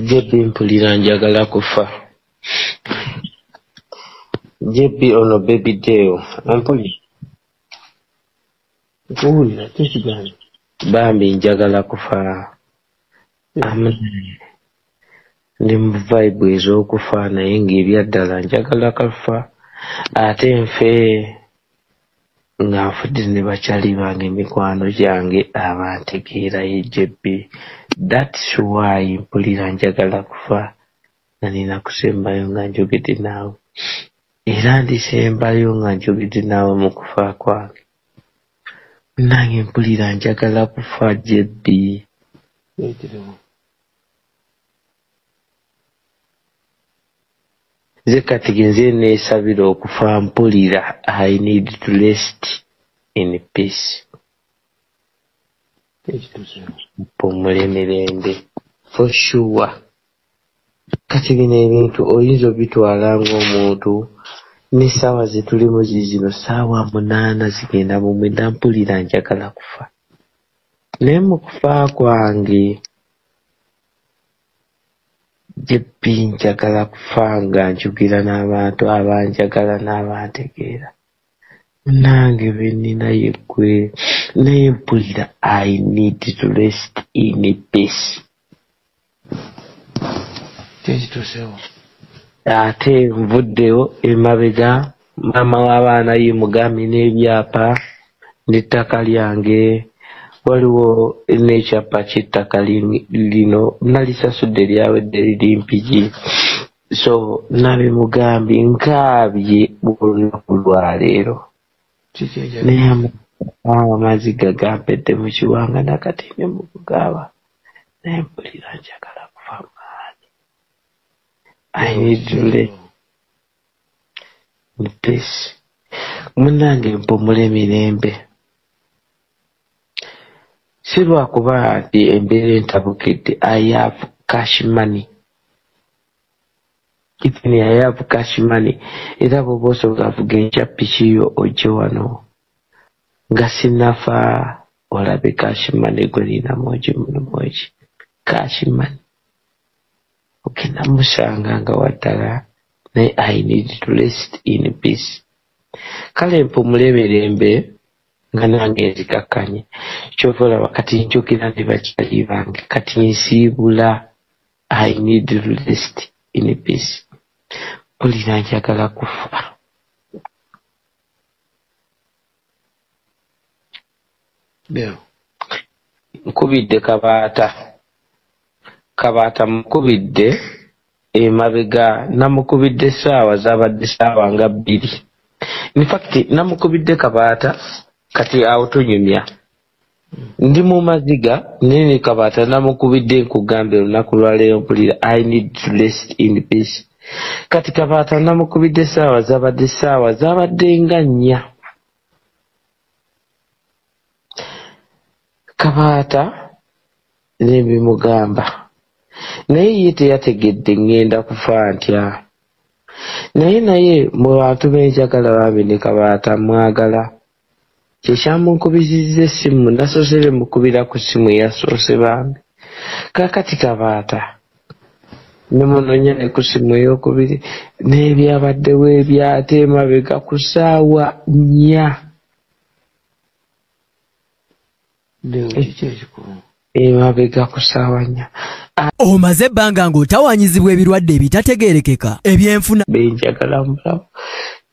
JB mpulira njagala kufa JB ono baby deo ompulira nkuwulira kyekigambo bambi njagala kufa amen ndi mu vibe ez'okufa naye ng'ebyaddala njagala kafa ate nfe nga nfudize ne bakyali bange mikwano gyange abantegeera ye JB that's why mpulira njagala kufa nga nina kusembayo nga njogedde naawe era ndisembayo nga njogedde naawe mu kufa kwange nange mpulira njagala kufa JB ekirimu nze kati genze nesabira okufa mpulira i need to rest in peace mpumule mirembe for sure kati bino ebintu oyinza obitwala ngaomuntu nesaawa zetulimu zizino saawa munaana zigenda mumwenda mpulira njagala kufa naye mukufa kwange JB njagala kufa nga njugira n'abantu abanjagala n'abantegeera munange benina yeggwe naye mpulira I need to rest in peace kyekitusewo ate nvuddewo emabega maama w'abaana yi mugambi n'ebyapa n'ettaka lyange waliwo n'ekyapa ky'ettaka lino nalisasudde lyawedde liri mpigi so nabimugambi nkaabye olunaku lwaleero naye amaziga gampedde mu kiwanga nakati ne mu kugaaba naye mpulira njagala kufa maani ayinidule Please. Munange mpumule mirembe. Si lwakuba nti embeera entabukidde I have cash money. Even I have cash money. Era bwoba osobola avuga enkya piki yo ojje wano. Nga sinafa olabe cash money gwe nina mwogi muno mwogi. Cash money. Ogenda musanga nga waddala naye I need to rest in peace. Kale mpumule mirembe nga nange nzikakkanye. Kyova olaba kati njogera ne bakyali bange kati nsiibula I need to rest in peace. Mpulira njagala kufa. nkubidde kabaata kabaata mukubidde emabega namukubidde saawa zabadde saawa nga bbiri infact namukubidde kabaata kati awo tunyumya ndi mu maziga naye ne kabaata namukubidde nkugamba olunaku lwaleero mpulira i need to rest in peace kati kabaata namukubidde saawa zabadde saawa zabadde nga nnya kabaata nembimugamba naye ye teyategedde ŋŋenda kufa ntya naye naye mu bantu benjagala bambi ne kabaata mwagala kyekyamunkubizizza essimu nasoose bemukubira ku ssimu eyasoose bambi kakati kabaata nemunonya ne ku simu eyokubiri n'ebyabaddewo ebyate emabega ku saawa nnya emabega ku saawa nnya omaze ebbanga ng'otawanyizibwa ebirwadde ebitategeerekeka ebyenfuna benjagala mulamu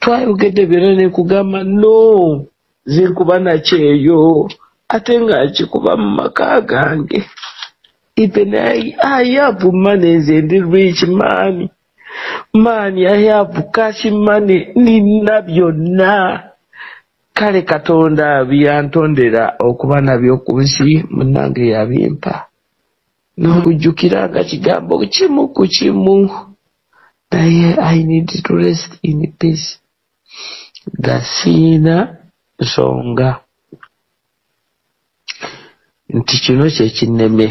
twayogedde byona nekugamba no zinkuba nakyeyo ate nga nkikuba mu maka gange Ipe naye ayabu mane nze ndi rich mani mani ayabu kashi mane nina byonna kale katonda byantondera okuba nabyo ku nsi munange yabimpa nokujjukira nga kigambo kimu ku kimu naye i need to rest in peace nga siyina nsonga nti kino kyekinneme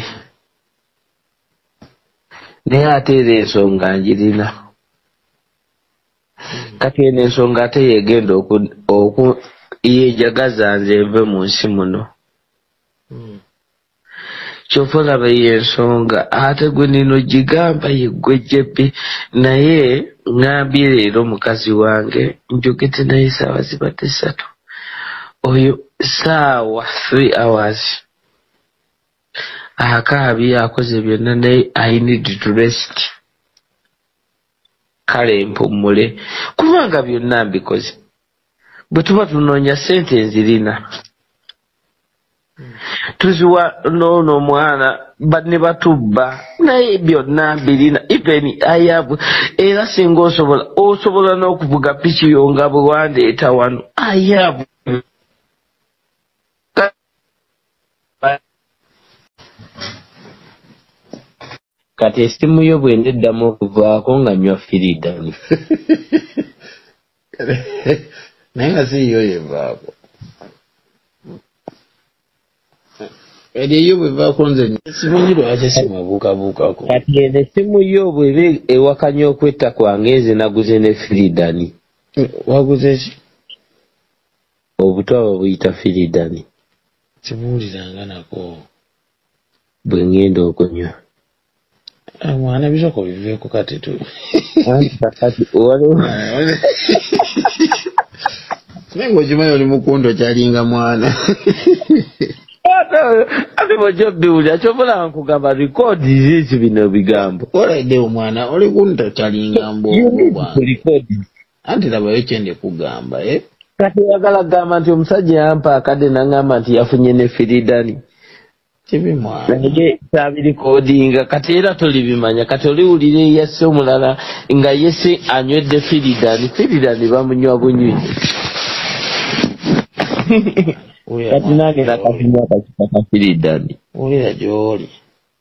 naye ate era ensonga njirina kati eno ensonga ate yegenda oku yejagaza nze nve mu nsi muno hmm. kyova olaba yensonga ate gwe nino gigamba yeggwe jebbi naye ngambye leero mukazi wange njogedde naye saawa zibadde satu oyo saawa three hours akaabi akoze byonna naye i need to rest kale mpummule kubanga byonna mbikoze bwe tuba tunoonya sente nzirina tuziwa noono omwana ne batubba naye byonna birina even ayabu era singa osobola osobola n'okuvuga piki yo nga bwe wandeeta wano ayabu kati esimu yo bwenda eddamu okuvaako nga nywa firidan naye nga siiyo yevaako eri eyo bwevaako nze esimu nyi lwaki esimu ebuukabuukako kati eno esimu yo bweba ewakanya okwetta kwange nze naguze ne firidani waguze ki obutwa babuyita firidani kibuuliranga nako bwe ngenda okunywa mwana bisoko biveeko kati tu naye ngaokimanyi oli mukundo kyalinga mwana ate bwojja biwulira kyobola nkugamba rikodi ziki bino bigambo olaidde omwana oli kunto kyalinga mbwomu bwange Anti labayo kyende kugamba eh. Kati yagala gamba nti omusajja yampa akade nangamba nti yafunye ne firidani. Kibi mwana. Nige sabiri kodinga kati era toli bimanya kati oli ulire yase omulala nga yese anywedde firidani firidani bamunywa bunywi. Kati nange nakati mwaka kipaka firidani. Ulira joli.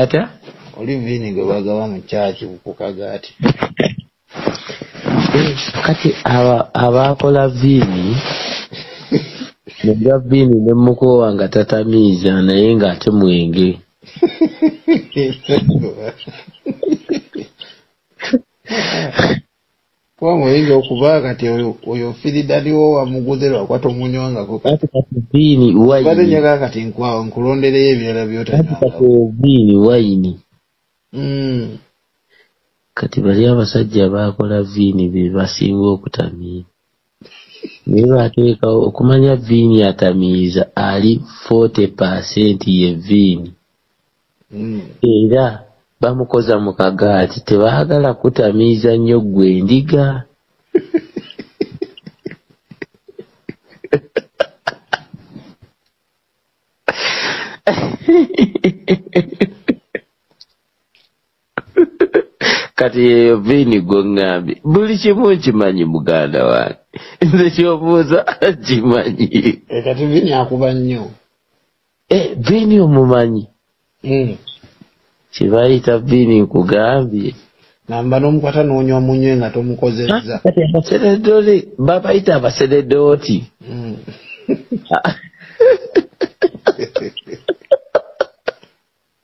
Ate oli viini gwe bagawa mu kyaki kukaga ati eh, kati abaakola viini muga viini ne mukoowa nga tatamiiza naye ng'ate mwenge kuba muyinza okuba kati oyo firidaniwo wamuguze lwakuba tomunywangako bade njaga kati nkwawo nkulondereyo ebirala byotanywangakobini wayini hmm. kati bali abasajja bakola viini bebasinga okutamiira naye bateekawo okumanya viini atamiiza ali forty percent ye viini hmm. era bamukoza mu kagaati tebaagala kutamiiza nnyo ggwe endiga kati yeyo viini gwe ŋŋambi buli kimu nkimanyi muganda wange nze kyobuuza kimanyi eh, kati viini akuba nnyo eh, viini omumanyi hmm. kibayita viini nkugambye namba n'omukwata n'onywa munywe nga tomukozezza abaseredoli babayita abaseredooti hmm.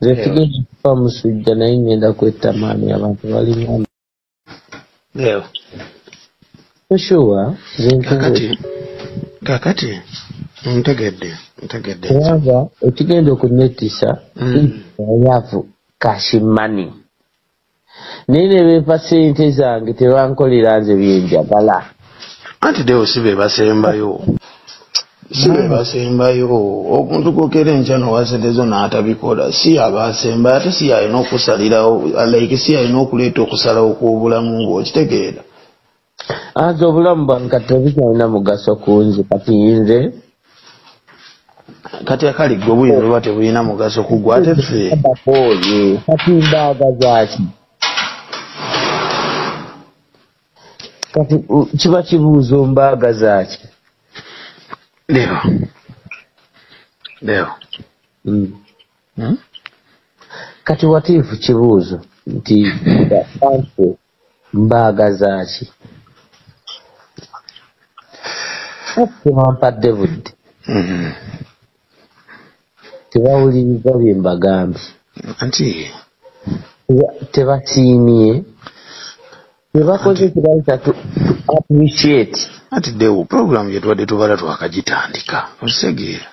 nze figenda kufa musujja naye ngenda kwetta maani abantu balina oshuwa kakati kakati ntegedde ntegedde kubanga ekigenda okunettisa mm. oyavu kashimani naye ne bempa sente zange tebankolera nze byenjagala anti dewo si be basembayo si be basembayo omuntu gokera enkya nowa sente zo n'atabikola si aba asembayo ate si yalina okusalirawo alaike si yalina okuleeta okusalawo kw'obulamu bwe okitegeera anze obulamu bwange kati tebukyalina mugaso kunze kati nze kati akali gwe buyinza oba tebulina mugaso kugwa ate fe kati mbaaga zaki kati kiba kibuuzo mbaaga zaki ndio ndio mm. hmm? kati watiifu kibuuzo nti mbaagazaaki tebampadde budde mm-hmm. tebawuliriza bye mbagambye anti tebasiimye byebakoze tebayita tu appreciate anti dewo puroguramu gyetubadde tubala twakagitandika okitegeera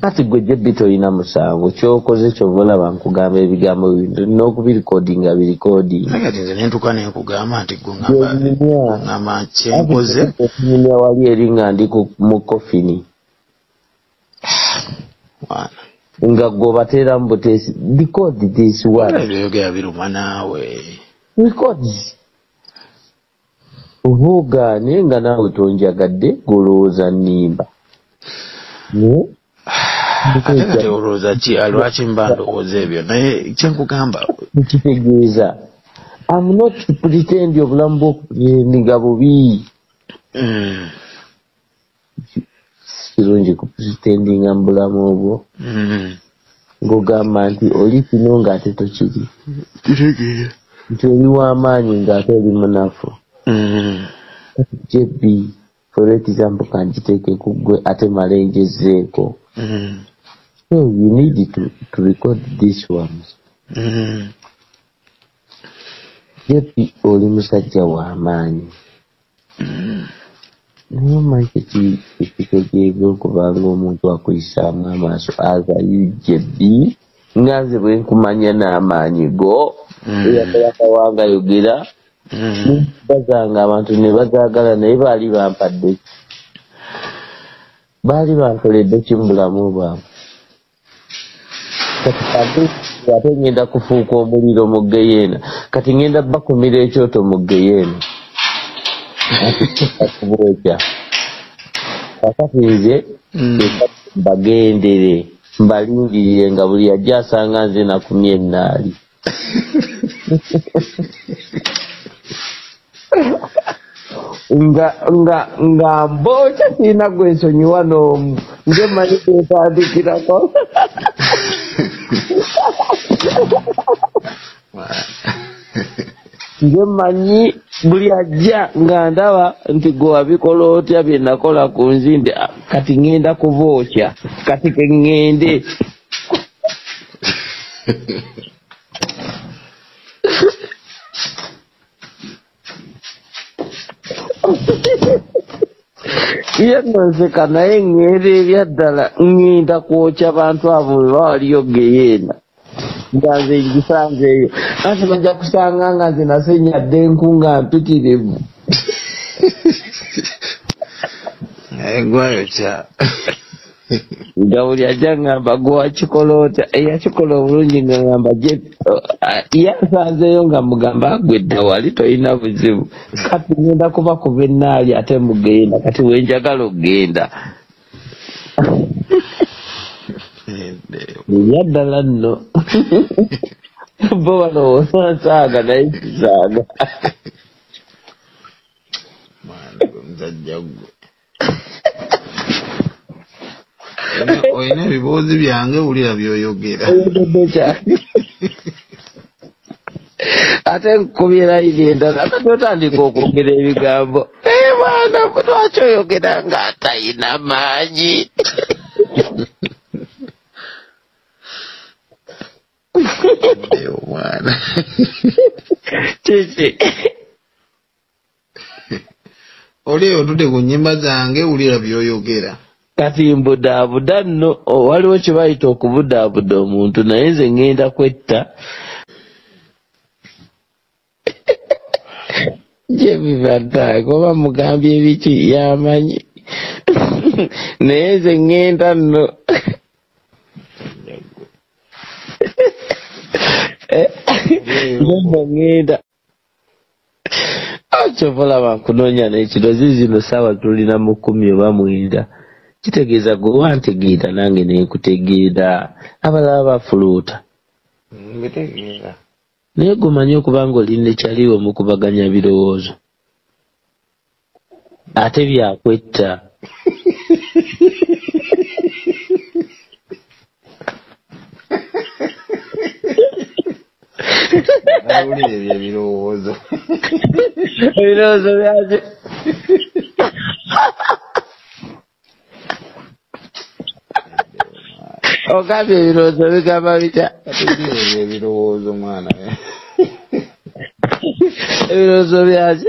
kati gwe jebbi tolina musango kyokoze kyova olaba nkugamba ebigambo bintu olina okubirikodinga birikodingentuka nenkugamba nti gweama kyenkoze okunyumya wali eri nga ndi mu kofini nga gweobateera mu buteesi bikodi this one ebyoyogera biruma naawe bikodi oba ogaane nga naawe tonjagadde golowooza nimba ate kati olowooza ki ah, lwaki mba ndowooza ebyo naye kyenkugamba ekitegeeza am not pretend obulamu bwokupretendinga bubi mm. kirungi ku pretendinga mu bulamu obwo mm-hmm. ng'ogamba nti oli kino ng'ate tokiri kitegeera nti oli w'amaanyi ng'ate oli munafu mm-hmm. jb for example kanjiteeke ku ggwe ate male njezeeko mm-hmm. so you need to, to record this one jp oli musajja w'amaanyi naye manke kitegeeza okuba ngaomuntu akuyisaamu amaaso aza ugb nga nze bwenkumanya n'amaanyi go mm. eyakolakawanga yogera mm. bazanga abantu ne bazagala naye baali bampadde baali bankoledde ki mu bulamu bwange ate ŋŋenda kufuuka omuliro mu ggeyeena kati ŋŋenda bakumira ekyoto mu ggeyeena kubwokya kakati nze mm. bagendere mbalindirire nga buli yajja asanga nze nakumya ennaali nga nga nga mboca sina gwe nsonyiwa n'omu nze manyi gwetandikirako nze manyi buli ajja nga ndaba nti gwe wabikola otya byenakola ku nzimbe ah, kati ŋŋenda kuba otya kati ke ŋŋende iyo noseka naye ng'era erya ddala ng'enda kwokya bantu abo bwe bawaliyo geyeena nga nze ngisanze eyo anti bajja kusanga nga nze nasenyadde enku nga mpitirivu naye gwayokya nga buli ajja ngamba gwewakikola otya eyakikola obulungi nga ngamba ye asanzeeyo nga mugamba agwedda wali tolina buzibu kati ngenda kuba kuva enaali ate mugenda kati wenjagala okugenda yaddala nno bo balowooza nsaaga naye kisaaga mwana gwe muzajja gwe olina ebiboozi byange wulira byoyogera ate nkubira iri endala ate otandika okwogera ebigambo naye mwana lwaki oyogera nga atayina maanyi omwana kiki oli otude ku nyimba zange wulira byoyogera kati mbudaabuda nno waliwo kye bayita okubudaabuda omuntu naye nze ŋŋenda kwetta gye bibataaga oba mugambye ebiki yamanyi naye nze ŋŋenda nno eh, nze ŋŋenda kyova olaba nkunoonya nekiro zizino saawa tulina mu kumi oba mwenda kitegeeza gwe wantegeera nange nenkutegeera abalala bafuluuta mbitegeera naye gumanye okuba nga oli nekyaliwo mukubaganya birowoozo ate byakwetta awulira ebyo ebirowoozo ebirowoozo byaki ogambye ebirowoozo bigamba bitya ebirowoozo mwana ebirowoozo byaki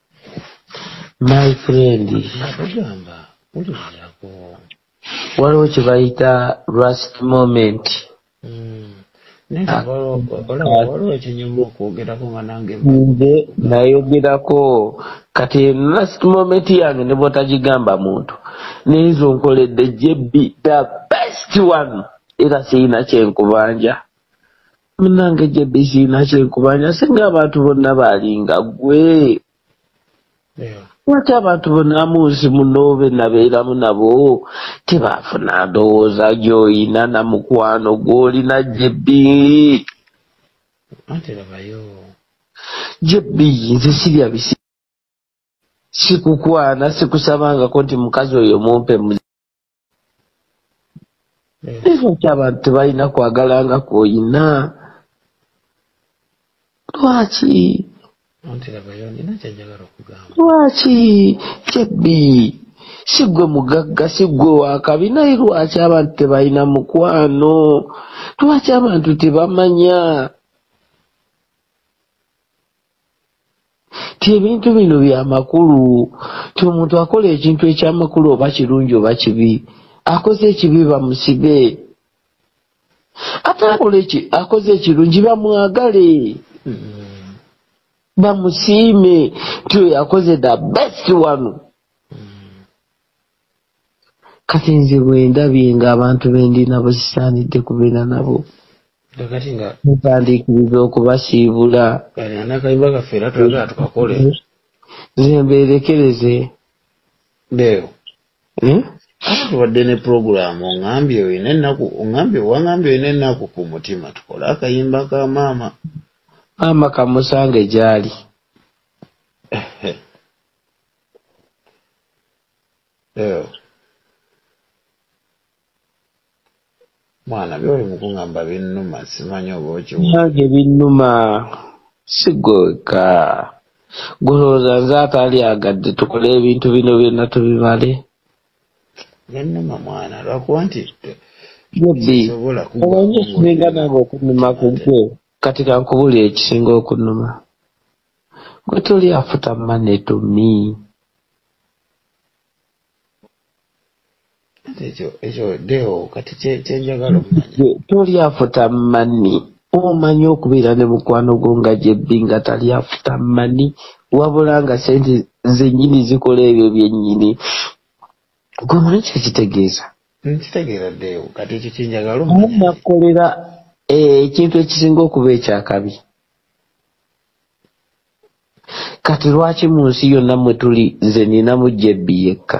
my friend atugamba uliwulirako waliwo kyebayita rust moment nze nayogerako kati last moment yange ne bwotagigamba muntu nenzo nkoledde jb the best one era siyina kyenkubanja munange jebbi kiina kyenkubanja singa abantu bonna baalinga gwe lwaki abantu bonna munsi muno benabeeramu nabo tebaafuna ndowooza gyoyina na mukwano gwolina jebbi jebbi nze sirya bisi sikukwana sikusabangako nti mukazi oyo mumpe ekyo kyabantu tebalina kwagala nga kwoyina lwaki lwaki kyebbi si gwe mugagga si gwe wakabi naye lwaki abantu tebalina mukwano lwaki abantu tebamanya ti ebintu bino byamakulu ti omuntu akola ekintu ekyamakulu oba kirungi oba kibi akoze ekibi bamusibe ate akola eki akoze ekirungi bamwagale bamusiime ti oyo akoze the best one kati nze bwendabye nga abantu bendina bwezisaanidde kubeera nabo mutandiikiriza okubasiibula nze mbeerekereze beeyo hmm? wadde ne pulogulaamu ongambye olina ennaku ongambye wangambye olina ennaku ku mutima tukole akayimba ka maama maama kamusange gyali Ew. mwana byoli mukungamba binnuma simanyi oba okiwage binnuma sigweka gulowooza nze atalyagadde tukole ebintu bino byonna tubimale binnuma mwana lwakuba nti omanyi ekisinga nange okunuma kugwe kati kankubuli ekisinga okunuma gwe toli afuta mane to me ekyo ekyo deo kati kyenjagala okumanya toli afuta mani omanyi okubeera ne mukwano gwo nga gyebbi nga tali afuta mani wabula nga sente zenyini zikola ebyo byenyini gwe muli kyekitegeeza nkitegeera deo kati ekyo kyenjagala omunakukolera eh, ekintu ekisinga okuba ekyakabi kati lwaki munsi yonna mwetuli nze ninamu jebbi yekka